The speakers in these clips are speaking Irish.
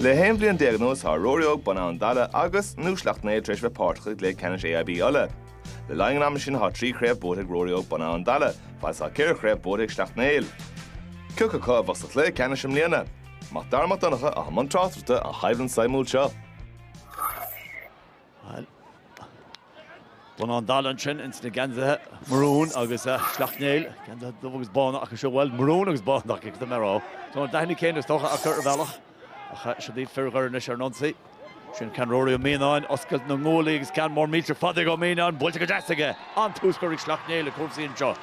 Le 11 bliain anuas tá Ruairí Óg, Bun Abhann Dalla agus nó Sleacht Néill tar éis a bheith páirteach i gcluiche ceannais AIB Uladh. Le linn an ama sin tá trí chraobh buaite ag Ruairí Óg, Bun Abhann Dalla, fad is tá ceithre chraobh buaite ag Sleacht Néill. Cé acu a bheadh sa chluiche ceannais i mbliana? Mac Dara Mac Donncha i mbun tráchtaireachta ar an gcoimhlint suimiúil seo. Bun Abhann Dalla ansin ins na geansaithe marún agus Sleacht Néill, geansaithe dubh agus bán acu seo, bhuel marún agus bán acu cad a mbeadh orthu. Tá an dath céanna is dócha acu ar bhealach ach seo iad fir Dhoire anois ar an ionsaí. Sin ceann Ruairí Ó Mianáin, oscailt na nguaillí agus ceann mór millteach fada ag Ó Mianáin, buailte go deas aige. An-tús curtha ag Sleacht Néill le cúrsaí anseo.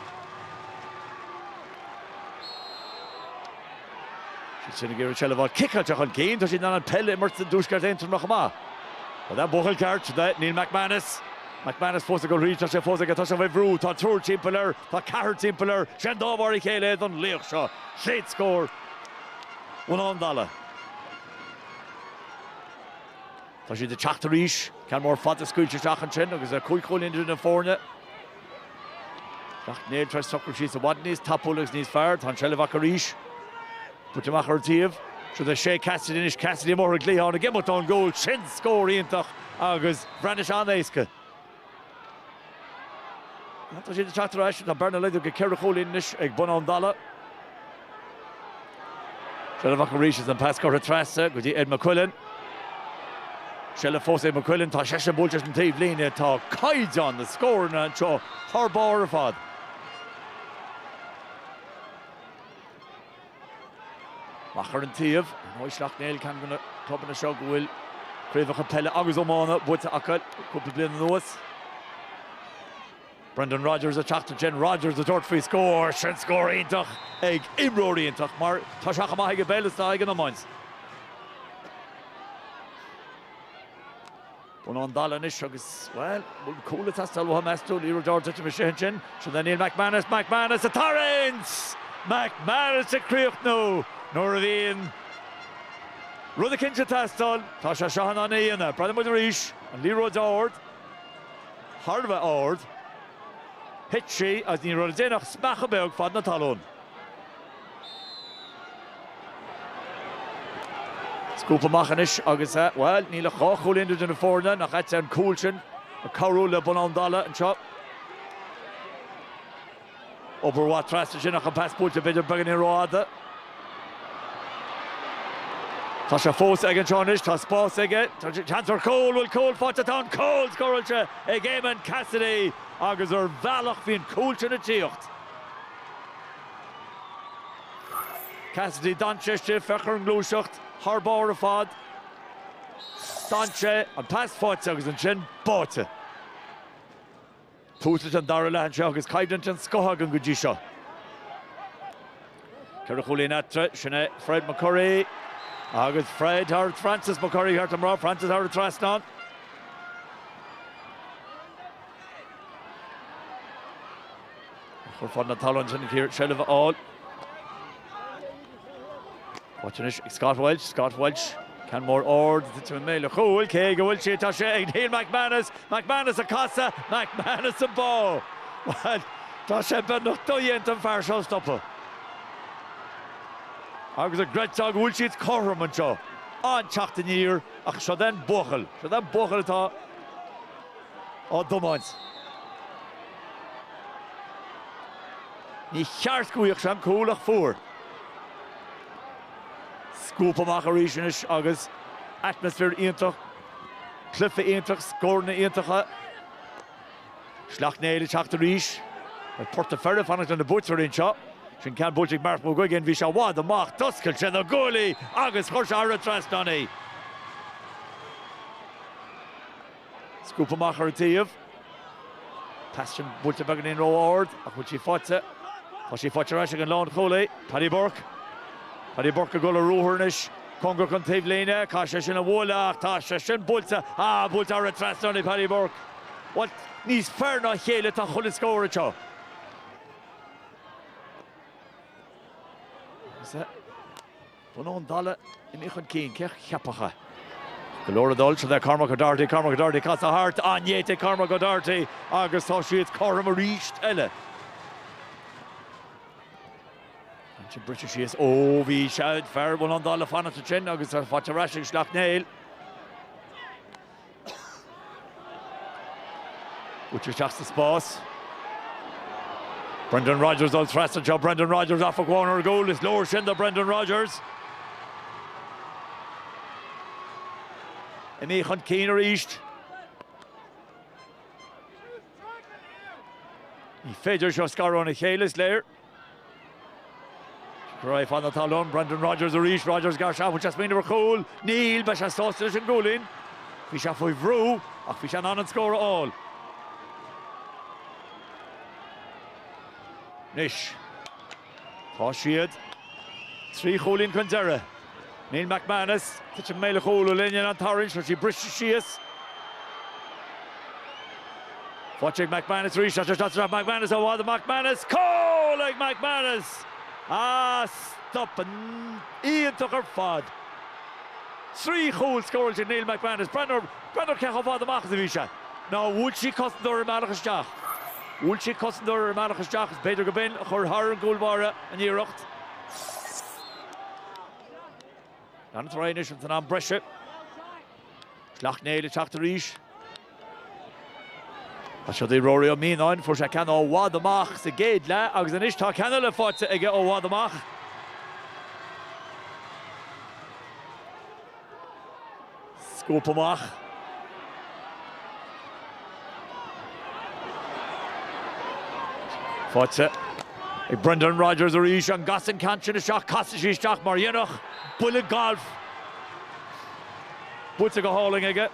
Siad sin ag iarraidh seilbh a fháil, ciceáilte chun cinn, tá siad in ann peil a imirt i dtuaisceart Aontroma chomh maith. Tá an buachaill ceart, Neil McManus. McManus fós ag dul thríd, tá sé fós ag dul, tá sé faoi bhrú, tá triúr timpeall air, tá ceathrar timpeall air, 'sé an dá mhar a chéile é don laoch seo. Chéad scór Bhun Abhann Dalla. Tá siad ag teacht arís, ceann mór fada scaoilte isteach ansin agus cúig chúilín idir na foirne. Sleacht Néill tar éis socrú síos i bhfad níos tapúla agus níos fearr. Tá an tseilbh acu arís. Buailte amach ar an taobh. Siúd é Shay Cassidy anois, Cassidy amuigh ar an gcliathán, ag imeacht ón gcúl. Sin scór iontach agus bhreathnaigh sé an-éasca. Tá siad ag teacht arís. Tá bearna laghdaithe go ceithre chúilín anois ag Bun Abhann Dalla. Seilbh acu arís is an pas curtha trasna go dtí Ed McQuillan. Seilbh fós ag McQuillan, tá seisean buailte leis an taobhlíne, tá caighdeán na scóranna anseo thar barr ar fad. Amach ar an taobh, ar ndóigh Sleacht Néill ceann de na clubanna seo go bhfuil craobhacha peile agus iomána buaite acu le cúpla bliain anuas. Brendan Rodgers a teacht ansin, Rodgers a tabhairt faoi scór, sin scór iontach ag imreoir iontach mar tá sé chomh maith ag an bpeil is tá ag an iomáint. Bun Abhann Dalla anois agus, bhuel, bhfuil cúl ag teastáil uathu meas tú, liathróid ard imithe isteach ansin, siúd é Neil McManus, McManus a' tarraingt! McManus a' críochnú nuair a bhíonn rud eicínt ag teastáil, tá sé seo in ann é a dhéanamh, breathnóidh muid arís, an liathróid ard. thar a bheith ard. Thit sí agus ní raibh le déanamh ach smeachadh beag fad na talún. Scuabtha amach anois agus, bhuel, níl ach dhá chúilín idir na foirne. Nach ait é an cúl sin ag cabhrú le Bun Abhann Dalla anseo. Obair mhaith trasna ansin ach an pas buailte b'fhéidir beagáinín rófhada. Tá sé fós ag an seo anois, tá spás aige, seans ar chúl, bhuel cúl faighte, tá an cúl scóráilte ag Eamon Cassidy agus ar bhealach bhí an cúl sin ag tíocht. Cassidy dainséar istigh, féach ar an ngluaiseacht, thar barr ar fad. Dainséar, an pas faighte agus ansin báite. Tús leis an dara leath anseo agus coimhlint den scoth againn go dtí seo. Ceithre chúilín eatarthu, sin é Fred McCurry agus Fred thar Francis McCurry cheart dom a rá, Francis thar an trasnán. Curtha feadh na talún sin ag iarraidh seilbh a fháil. Faighte anois ag Scott Walsh, Scott Walsh, ceann mór ard, titeann i mbéal an chúil, cé aige a bhfuil sí, tá sé ag Neil McManus, McManus ag casadh, McManus á bá! Bhuel, tá sé beagnach dodhéanta an fear seo a stopadh. Agus an gcreidfeá go bhfuil siad cothrom anseo, an-teacht aniar, ach seod é an buachaill, seod é an buachaill atá á dtiomáint. Níor cheart go bhfaigheadh sé an cúl ach fuair. Scuabtha amach arís anois agus atmaisféar iontach, cluife iontach, scóranna iontacha. Sleacht Néill ag teacht arís. Ar Port an Pheire ag fanacht lena buaiteoirí anseo. Sin ceann buailte ag Mark McGuigan. Bhí sé i bhfad amach. D'oscail sé na guaillí agus chuir sé thar an trasnán í. Scuabtha amach ar an taobh. Pas sin buailte beagáinín ró-ard ach bhfuil sí faighte? Tá sí faighte ar ais ag an lánchúlaí, Paddy Burke. Paddy Burke ag dul ar ruathar anois. Cóngarach don taobhlíne. Caithfidh sé sin a bhualadh ach tá sé sin buailte. Ah, buailte thar an trasnán ag Paddy Burke. Bhuel, níos fearr ná a chéile atá chuile scór anseo. Is ea. Bun Abhann Dalla imithe chun cinn cé a cheapfadh é. Go leor ag dul le Cormac O'Doherty, Cormac O'Doherty ag casadh thart, an-néata ag Cormac O'Doherty agus tá siad cothrom arís eile. Ansin briseadh síos, ó bhí fear Bhun Abhann Dalla ag fanacht ansin agus tá faighte ar ais ag Sleacht Néill. Buailtear isteach sa spás. Brendan Rogers ag dul trasna anseo, Brendan Rogers ag féachaint ar an gcúl, is leor sin do Brendan Rogers. Imithe chun cinn arís. Ní féidir iad seo a scaradh óna chéile is léir. Crua feadh na talún. Brendan Rogers arís. Rogers ag gearradh isteach, bhfuil sé ag smaoineamh ar chúl? Níl, beidh sé sásta leis an gcúilín. Bhí sé faoi bhrú ach bhí sé in ann an scór a fháil. Anois tá siad trí chúilín chun deiridh. Neil McManus, titeann i mbéal an chúil le linn an tarraingt, tá sí briste síos. Faighte ag McManus arís, as ar stop McManus ó Adam McManus, cúl ag McManus! Ah, stop iontach ar fad! Trí chúl scóráilte ag Neil McManus, breathnú ar cé chomh fada amach is a bhí sé. Now, bhuail sí cosantóir ar an mbealach isteach. Bhuail sí cosantóir ar an mbealach isteach is b'fhéidir go b'in a chuir thar an gcúl báire an iarracht. Ceann eatarthu anois ins an am breise. Sleacht Néill ag teacht arís. Siúd é Ruairí Ó Mianáin, fuair sé ceann ó i bhfad amach sa gcéad leath agus anois tá ceann eile faighte aige ó i bhfad amach. scuabtha amach. Faighte ag Brendan Rogers arís, an gcasann ceann sin isteach? Casfaidh sí isteach mar a dhéanfadh buille gailf. Buailte go hálainn aige.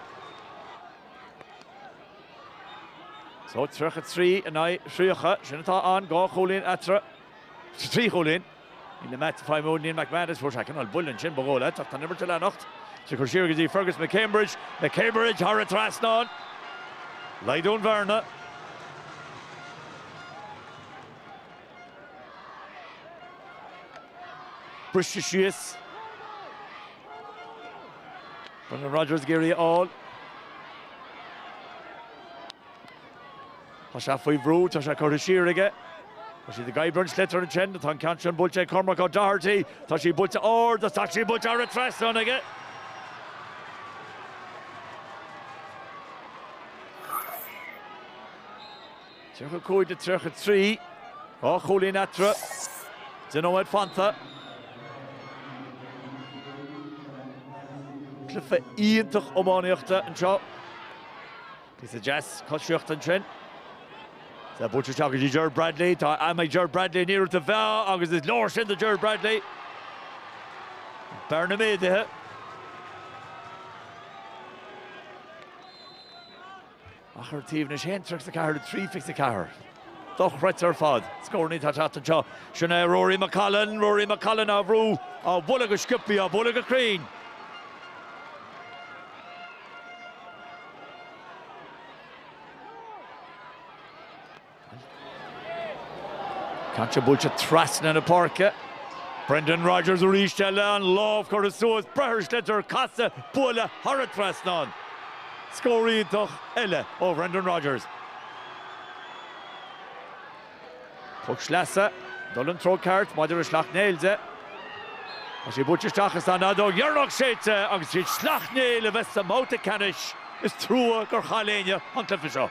So, 33 in aghaidh 30, sin atá ann, dhá chúilín eatarthu, trí chúilín. Ina measc faoi Neil McManus, fuair sé cineál buile ansin, ba dhóigh leat, ach tá an imirt ag leanacht is curtha siar go dtí Fergus McCambridge, McCambridge thar an trasnán, laghdaíonn an bhearna. briste síos. Brendan Rodgers ag iarraidh a fháil. Tá sé faoi bhrú, tá sé curtha siar aige. Tá siad ag oibriú an sliotar ansin, tá an ceann sin buailte ag Cormac O'Doherty, tá sí buailte ard agus tá sí buailte thar an trasnán aige. Tríocha a cúig de tríocha trí, dhá chúilín eatarthu, deich nóiméad fanta. Cluiche iontach iománaíochta anseo. Píosa deas coisíocht ansin. Tá buailte isteach go dtí Ger Bradley. Tá am ag Ger Bradley an iarracht a mheá agus is leor sin do Ger Bradley. Bearna méadaithe. Achar taobh anois 1-34 is 3-24. Dochreidte ar fad. Scóranna atá ag teacht anseo. Sin é Ruairí McCollum. Ruairí McCollum á bhrú, á bhualadh go sciopthaí, á bhualadh go cruinn. Caite buailte trasna na páirce. Brendan Rogers arís leis, an lámh curtha suas, breith ar sliotar, casadh, bualadh thar an trasnán. Scór iontach eile ó Bhrendan Rogers. Poc sleasa dul sa treo ceart maidir le Sleacht Néill. Tá sé buailte isteach is tá an fheadóg dheireanach séidte agus 's iad Sleacht Néill a bheas sa mbabhta ceannais. Is trua gur chaill éinne an cluiche seo.